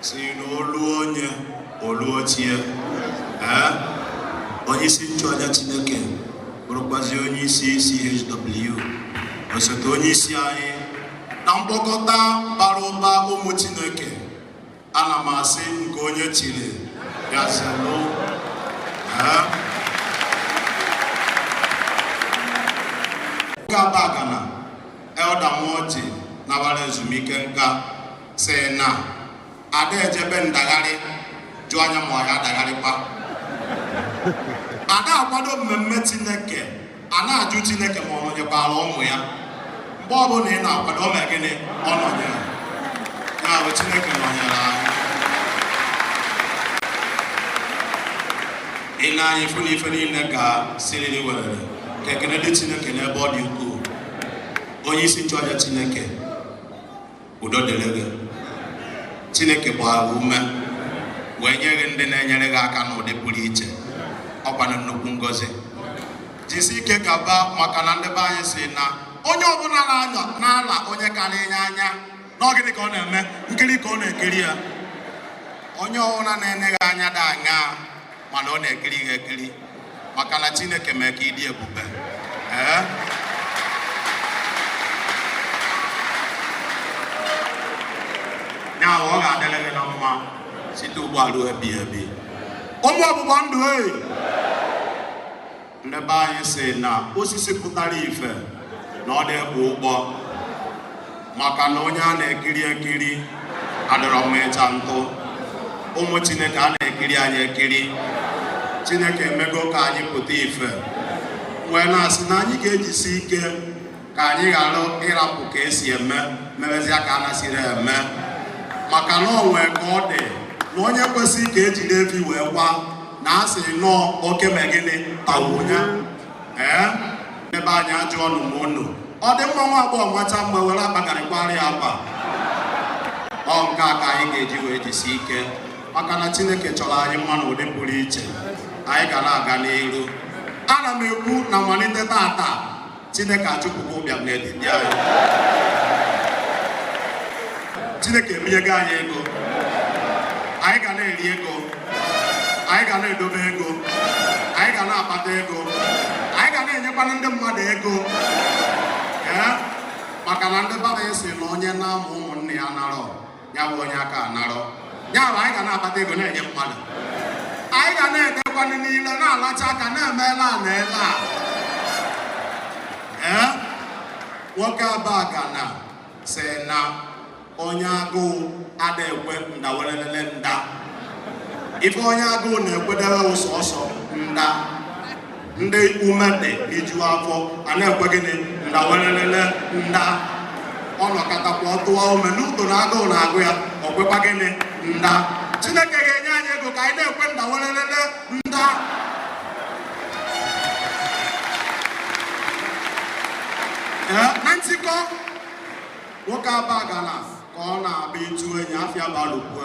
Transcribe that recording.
si na olu onye olu ochie ee onye isi nchụaja Chineke bụrụkwazi onye isi CHW osote onye isi anyị na mkpokọta bara ụba ụmụ Chineke ana m asị nke onye chiri ya zelụ Ugabagana Elder Nwoji nabara ezumike nka sị na ada eje be ndagharị jụọ anya ma ọ ya adagharịkwa ada akwado mmemme Chineke a na-ajụ Chineke ma ọ nọnyekwara ụmụ ya mgbe ọbụla ị na-akwado o mee gịnị ọ nọnyere ya bụ Chineke nọnyere anyị ị nee anya ị fụ na ife niile gaa siriri werere ka ekene dị Chineke n'ebe ọ dị ukwuu onye isi nchụaja Chineke udo dịrị gị chineke gbara ume wee nye gị ndị na-enyere gị aka n'ụdị pụrụ iche ọkwanụ nnukwu ngozi jisi ike gaba maka na ndị be anyị si na onye ọbụla na-anyọ na-ele onye karịrị ya anya na ọ gịnị ka ọ na-eme nkiri ka ọ na-ekiri ya onye ọbụla na-ene gị anya dị anya mana ọ na-ekiri gị ekiri maka na Chineke mee ka ị dị ebube ee ya ọ ga-adịrị gị na mma site ugbu a ruo ebighị ebi ụmụ ọgbụgba ndụ ee ndị be anyị si na osisi pụtara ife na ọ dị ekpu ụgbọ maka na onye a na-ekiri ekiri adịrọ mma ịcha ntụ ụmụ chineke a na-ekiri anyị ekiri chineke emego ka anyị pụta ife wee na-asị na anyị ga-ejisi ike ka anyị ghara ịrapụ ka esi eme mebezia ka a nasịrị eme maka na o nwee ka ọ dị na onye kwesịrị ka ejiri efi wee kwaa na a sị nọọ oke mee gịnị tawụnya ee ndị be anyị ajụọnụ m unu ọ dị mma nwa agbọghọ machaa mma were akpa garri kwara ya akwa ọ nke a ka anyị ga-eji wee jisi ike maka na chineke chọrọ anyị mma n'ụdị pụrụ iche anyị ga na-aga n'iru ana m ekwu na malite tata Chineke achụpụgo ụbịam n'etiti anyị. Chineke ebinyego anyị ego. Anyị ga na-eri ego. Anyị ga na-edobe ego. Anyị ga na-akpata ego. Anyị ga na-enyekwanụ ndị mmadụ ego. Ee, maka na ndị be anyị si na onye na-amụ ụmụnne ya anarọ. ya bụ onye aka narọ ya bụ anyị ga na-akpata ego na-enye mmadụ anyị ga na-elikwanụ niile na-alacha aka na-emela a na-ele a ee nwoke abagana sị na onye agụụ ada ekwe nda welelele nda ife onye agụụ na-ekwedebe bụ sọọsọ nda ndị ume lijuo afọ a na-ekwe gịnị nda welelele nda ọ nọkatakwa ọtụwa ume n'uto na agụụ na-agụ ya ọ kwekwa gịnị nda chineke ga-enye anyị ego ka anyị na-ekwe nda welelele nda na ntikọ nwoke abagana ka ọ na-abịa ịtụ enyi afịa balụkwe